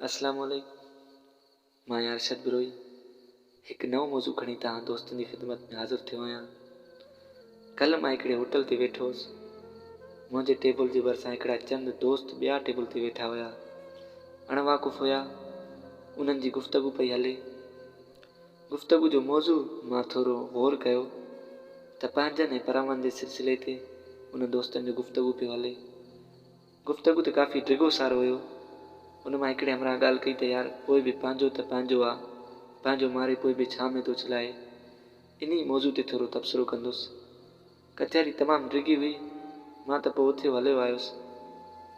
اسلام عليڪم مان ارشد بروهي هڪ نئون موضوع کڻي توهان دوستن جي خدمت ۾ حاضر ٿيو آهيان ڪلهه مان هڪڙي هوٽل تي ويٺو هوس منهنجي ٽيبل جي ڀرسان هڪڙا چند دوست ٻيا ٽيبل تي ويٺا هيا اڻواقف هيا انهن جي گفتگو پئي هلي گفتگو جو موضوع مان ٿورو غور ڪيو ته پنهنجن ۽ پرائون جي سلسلي تي انهن دوستن جو گفتگو پيو هلي. گفتگو ته ڪافي ڊگهو سارو هيو. ان مان هڪڙي همراهه ڳالهه ڪئي ته يار پوء به پنهنجو ته پنهنجو آ، پنهنجو ماري پوء به ڇا ۾ ٿو چلائي. انهي موضوع تي ٿورو تبصرو ڪندس. ڪچهري تمام ڊگهي هئي، مان ته پوء اٿيو هليو آيس،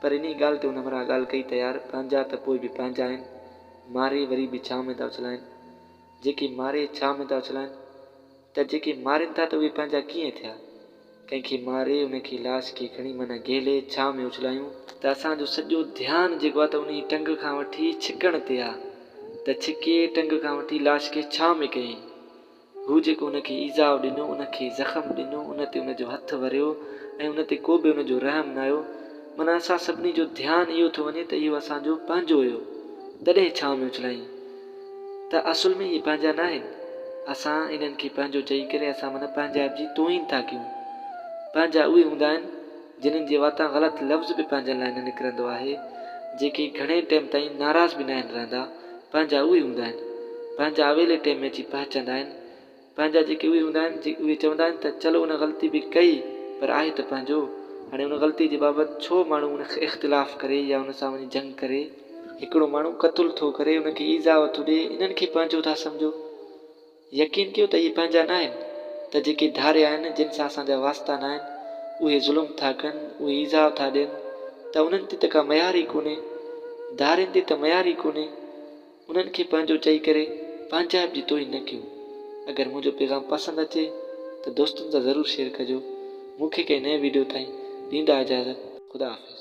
پر انهيء ڳالهه تي هن همراهه ڳالهه ڪئي ته يار پنهنجا ته پوء به پنهنجا آهن، ماري وري به ڇانو ۾ ٿا اڇلائين، جيڪي ماري ڇانو ۾ ٿا اڇلائين ته جيڪي مارين ٿا ته اهي پنهنجا ڪيئن ٿيا؟ ڪنهن کي ماري ان کي لاش کي کڻي معنيٰ گهيلي ڇانو ۾ اڇلايون، ته اسان جو سڄو ڌيان جيڪو آهي ته انهيء ٽنگ کان وٺي ڇڪڻ تي آهي، ته ڇڪي ٽنگ کان وٺي لاش کي ڇانو ۾ ڪيائين. هو جيڪو ان کي ايذاء ڏنو، ان کي زخم ڏنو، ان تي ان جو هٿ وريو ۽ ان تي ڪو به ان جو رحم نه ھيو. معنيٰ اسان سڀني جو ڌيان اهو ٿو وڃي ته اهو اسان جو پنهنجو هيو، تڏهن ڇانو ۾ اڇلايائين. ته اصل ۾ اهي پنهنجا ناهن. اسان انهن کي پنهنجو چئي ڪري اسان من پنهنجائپ جي توهين ٿا ڪيون. پنهنجا اهي هوندا آهن. جنھن جي واتان غلط لفظ به پنھنجن لاء نه نڪرندو آھي، جيڪي گھڻي ٽيم تائين ناراض به ناھن رھندا، پنھنجا اھي ھوندا آھن. پنھنجا اويلي ٽيم ۾ اچي پھچندا آھن. پنھنجا جيڪي اھي ھوندا آھن، اھي چوندا آھن ته چلو ان غلطي به ڪئي پر آھي ته پنھنجو، ھاڻي ان غلطي جي بابت ڇو ماڻھو ان کي اختلاف ڪري يا ان سان وڃي جنگ ڪري. ھڪڙو ماڻھو قتل ٿو ڪري، ان کي ايذاء ٿو ڏئي، انھن کي پنھنجو ٿا سمجھو. يقين ڪيو ته اهي پنهنجا ناهن ته جيڪي ڌاري آهن جن سان اسان جا واسطا ناهن اهي ظلم ٿا ڪن اهي ايذاء ٿا ڏين ته انهن تي ته ڪا ميار ئي ڪونهي ڌارين تي ته ميار ئي ڪونهي انهن کي پنهنجو چئي ڪري پنهنجائپ جي توهين نه ڪيو اگر منهنجو پيغام پسند اچي ته دوستن سان ضرور شيئر ڪجو مون کي ڪنهن نئين ويڊيو تائين ڏيندا اجازت خدا حافظ.